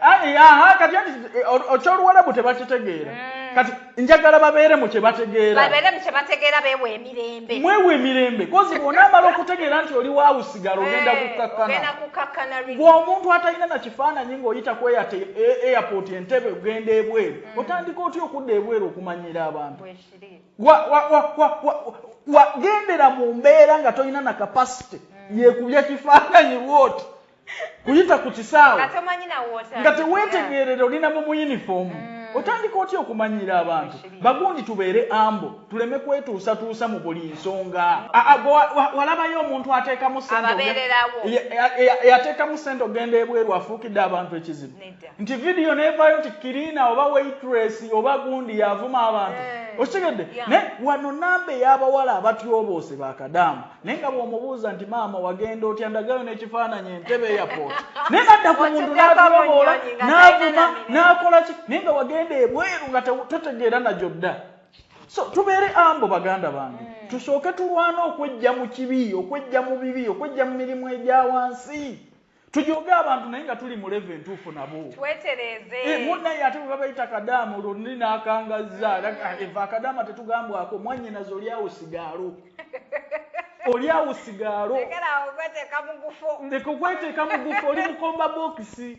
Ah, eh, ah, ah, kati eh, okyoluwalabu tebakitegeera mm. kati njagala babeere mu kyebategeerabategeera beewa emirembe mwewa emirembe kozi bwonaamala okutegeera nti oli waawusigala ogenda kukkakkana gweomuntu atalina na kifaananyi ng'oyita ku airport entebe ogenda ebweru mm. otandika otya okudda ebweru okumanyira abantu wagendera mu mbeera nga tolina na kapasite mm. yekubya kifaananyi bwoti kuyita ku kisaawe nga teweetegeerera olina mu muyinifoomu mm. otandika otya okumanyiira abantu bagundi tubeere ambo tuleme kwetuusatuusa mu buli nsonga walabayo omuntu ateekamu yateekamu sente ogenda ebweru afuukidde abantu ekizibu nti vidiyo nevayo nti kirina oba waitress oba gundi yavuma abantu eh. okitegedde naye wano namba ey'abawala abatyoboose bakadaama naye nga bw'omubuuza nti maama wagenda otya ndagayo n'ekifaananyi entebe airport naye nadda ku muntu n'atababoola n'avuma n'akola ki naye nga wagenda ebweru nga totegeera nagyo dda so tubeere ambo baganda bange mm. tusooke tulwana okwejja mu kibi okwejja mu bibi okwejja mu mirimu egya wansi Tujooge abantu naye nga tuli mu level entuufu nabo. Twetereeze. Eh, munaye ate bwe babayita kadaama olwo nni n'akangazza. Mm. Ah, eva akadaama tetugambwako mwannyinaze oli awo sigaalo. Oli awo sigaalo. Lekera okweteeka mu gufo. Leka okweteeka mu gufo oli mukomba bookisi.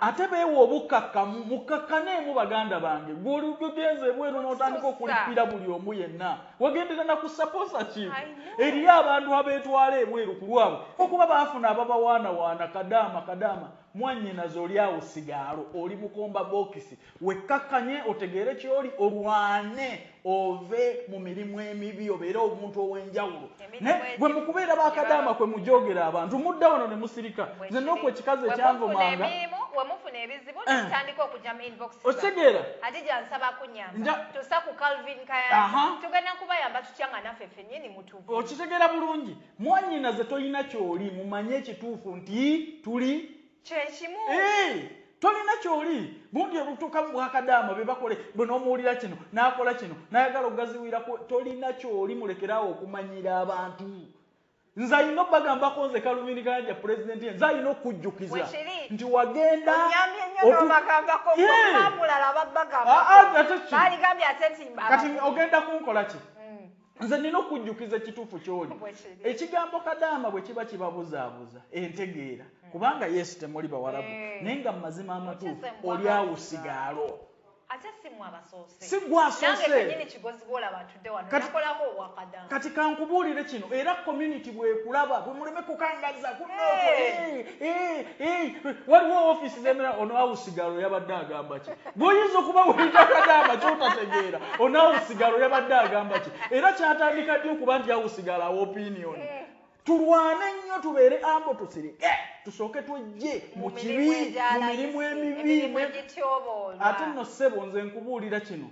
ate beewa obukkakkamu mukkakkaneemu baganda bange gweolugenza ebweru n'otandika okulippira buli omu yenna wagendera na ku saposa ki eriyo abantu abeetwala ebweru ku lwabwe okuba baafuna ababawaanawaana kadaama kadaama mwanyinaze oli awo sigaalo oli mukomba bokisi Wekkakkanye, otegeere ky'oli, olwane ove mu mirimu emibi obeere omuntu ow'enjawulo. Naye gwe mu kubeera ba kadaama kwe mujoogera abantu, mudda wano ne musirika. Nze n'oku ekikazi ekyanvumanga. We mufuna ebizibu ne eh. mutandika okujja mu inbox zammwe. Okitegeera? Hadija nsaba kunyamba. Tusa ku Calvin Kayanja. Tugenda kubayamba tutya nga naffe ffennyini mutuvu. Okitegeera bulungi? Mwannyinaze tolina ky'oli mumanye ekituufu nti tuli kyekimu Eeh tolina kyoli gundi olutuka mubwakadaama bebakole bwe nomuwulira kino nakola kino nayagala ogaziwira ku tolina kyoli mulekere awo okumanyiira abantu nze alina obagambako nze kalumini kayanja president ye nze alina okujjukiza nti wagenda ogenda kunkolaki nze nina okujjukiza ekituufu kyoli ekigambo kadaama bwe kiba kibabuzaabuza entegeera hmm. kubanga yesu temuli bawarabu eh. naye nga mu mazima amatuufu oli awusigaalo si gwasosekati kankubuulire kino era community bwekulaba bwemuleme kukangaza kunooko eh. eh, waliwo ofisi zemera ono awusigaalo yabadde agamba ki Bw'oyinza okuba weetakadde ama ky'otategeera ono awo sigalo yabadde agamba ki era kyatandika ddi okuba nti awo sigalo awo opinioni. Tulwane nnyo tubeere ambo tusirike tusooke twejje mu kibi mu mirimu emibi ate nno ssebo nze nkubuulira kino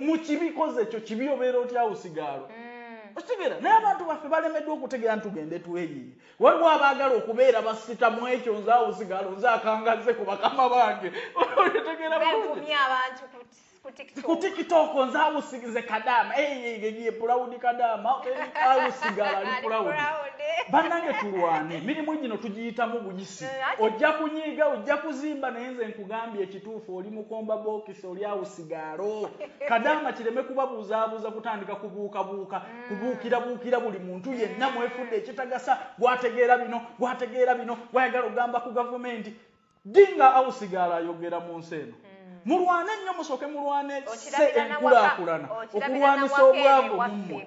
mu kibi kozi ekyo kibi obeera otya awo sigalo. Mm. Okitegera naye abantu baffe balemeddwa okutegera ntugende tweyiye. Waliwo abaagala okubeera bassita mu ekyo nze awo sigaalo nze akangazze ku bakama bange otegeera bulungi ku tiktok nze awo sigize kadaama eyeyeye pulawudi kadaama awo sigala ali pulawudi bannange tulwane emirimu gino tugiyitamu buyisi eh, ojja kunyiiga ojja kuzimba naye nze nkugambye ekituufu oli mukomba bokisi oli awo sigaalo kadaama kireme kubabuuzaabuuza kutandika kubuukabuuka kubuukirabuukira buli muntu yenna mwefudde ekitagasa gwategeera bino gwategeera bino gwayagala okugamba ku gavumenti ddi nga awusigaala ayogera mu nsi eno hmm. mulwane nnyo musooke mulwane se enkulaakulana okulwanisa obwavu mummwe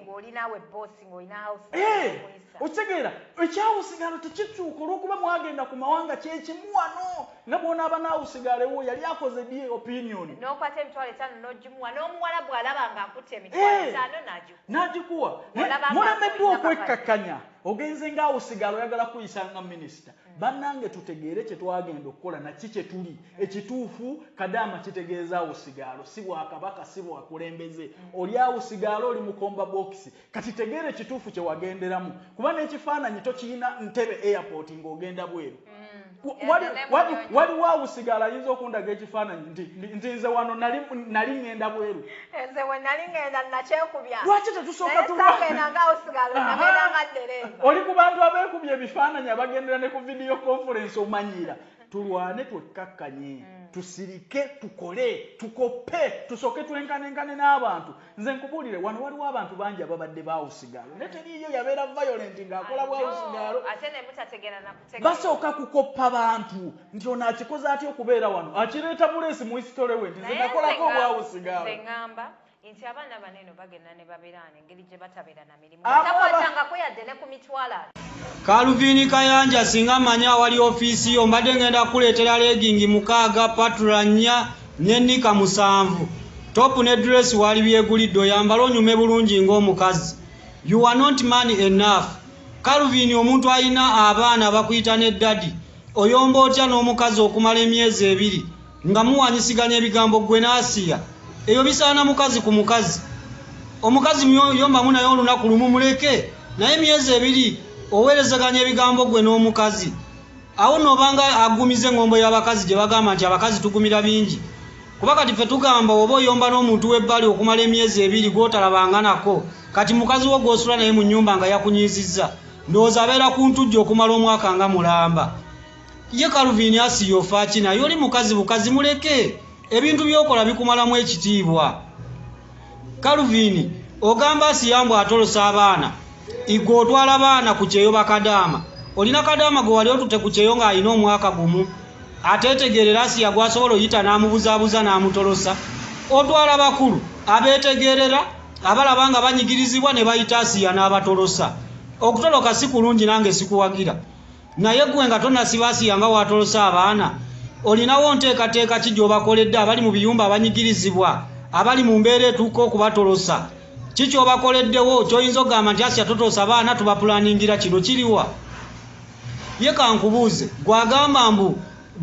eh, okitegeera ekyawusigaalo tekikyuka olwokuba mwagenda ku mawanga kyekimuwano Ne bw'onaaba naawe usigaalewo, yali akoze ddi opinion? N'okwata emitwalo etaano n'ogimuwa, n'omuwalabu alaba nga akutte emitwalo Eeh! etaano n'agikuwa. N'agikuwa. Naye Olaba nga mulemeddwa tolina kapale. okwekkakkanya, ogenze nga usigaala oyagala kukuyisa nga minister. Bannange tutegeere kye twagenda okukola na ki kye tuli. Ekituufu, Kadaama kitegeeza usigaalo, si Bwakabaka, si bwakulembeze. Oli usigaalo, oli mukomba bookisi. Kati tegeera ekituufu kyewagenderamu kuba n'ekifaananyi tokiyina ntebe airport ng'ogenda bweru mm. waliwo awusigala ayinza okundaga ekifaananyi nti nze wano nali ŋŋenda bweru lwaki tetusooka oli ku bantu abeekubya ebifaananyi abagendera ne ku vidiyo konfurensi omanyiira tulwane twekkakkanye mm. tusirike tukole tukoppe tusooke twenkanenkane n'abantu Nze nkubuulire wano waliwo abantu bangi ababadde bawusigaalo naye teriiyo yabeera violent ng'akola bwawusigaalo basooka kukoppa bantu nti ono akikoze atya okubeera wano akireeta buleesi mu hisitole we nti zenakolako obwawusigaalo nti abaana bano eno bagenda ne babeera wano engeri gye batabeera Calvin Kayanja singa manyi awali ofiisi yo mbadde ngenda kukuleetera leegingi mukaaga, patura nnya ne nnika musanvu. Ttopu ne dduleesi waalibyegulidde oyambale onyume bulungi ng'omukazi. You were not man enough. Calvin omuntu alina abaana bakuyita ne Daddy, oyomba otya n'omukazi okumala emyezi ebiri? nga muwanyisiganya ebigambo gwe n'asiya ebyo bisaana mukazi ku mukazi omukazi yombamu naye olunaku lumu muleke naye emyezi ebiri oweerezeganya ebigambo gwe n'omukazi awo noobanga agumiza engombo y'abakazi gye bagamba nti abakazi tugumira bingi kuba kati ffe tugamba oba oyomba n'omuntu w'ebbali okumala emyezi ebiri gw'otalabanga nako kati mukazi wo gw'osula naye mu nnyumba nga yakunyiizizza ndowooza abeera ku ntujja okumala omwaka nga mulamba ye kaluvini asiya ofaaki naye oli mukazi bukazi muleke ebintu byokola bikumalamu ekitiibwa kaluvini ogamba asiya mbu atolosa abaana igwe otwala abaana ku kyeyo bakadaama olina kadaama gwe wali otute ku kyeyo ng'alina omwaka gumu ateetegeerera asiya gwasobola oyita n'amubuzaabuza n'amutolosa otwala bakulu abeetegeerera abalaba nga banyigirizibwa ne bayita asiya n'abatolosa okutoloka si kulungi nange sikuwagira naye gwe nga tonasibasiya nga watolose abaana olinawo nteekateeka ki gyobakoledde abali mu biyumba abanyigirizibwa abali mu mbeera etuuka okubatolosa ki kyobakoleddewo kyoyinza okugamba nti asiya totolosa abaana tubapulaningira kino kiriwa ye kankubuuze gwagamba mbu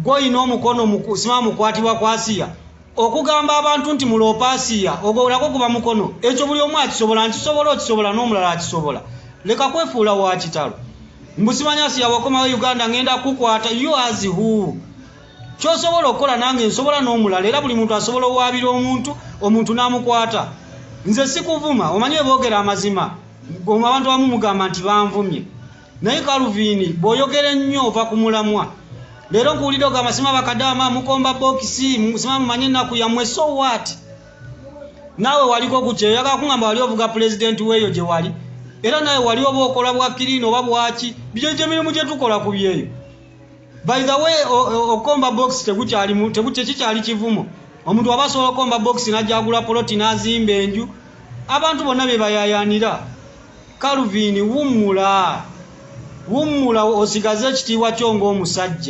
gwoyina omukono sima mukwatibwa kwasiya okugamba abantu nti muloopa asiya ogwo nagwo guba mukono ekyo buli omu akisobola nkisobola okisobola n'omulala akisobola leka kwefuula wa kitalo mbusimanya asiya wakomawo uganda ngenda kukwata you as who kyosobola okukola nange nsobola n'omulala era buli muntu asobola owaabira omuntu omuntu n'amukwata nze sikuvuma omanyi weboogera amazima abantu abamu mugamba nti banvumye naye kaluviini bw'oyogera ennyo ova ku mulamwa leero nkuwulidde ogamba sima bakadaama mukomba bokisi sima mumanye ennaku yammwe so wat naawe waliko ku kyeyo yagala kungamba wali ovuga pulezidenti weeyo gye wali era naawe wali oba okola bwakiriina oba bwaki bijo gyemirimu gye tukola ku byeyo by the way okomba box tegukyalimu tekikyali kivumo omuntu waba asobola okomba box najagula poloti nazimba enju abantu bonna bebayayanira calvin wummula wummula osigaze ekitiibwa kyo ngaomusajja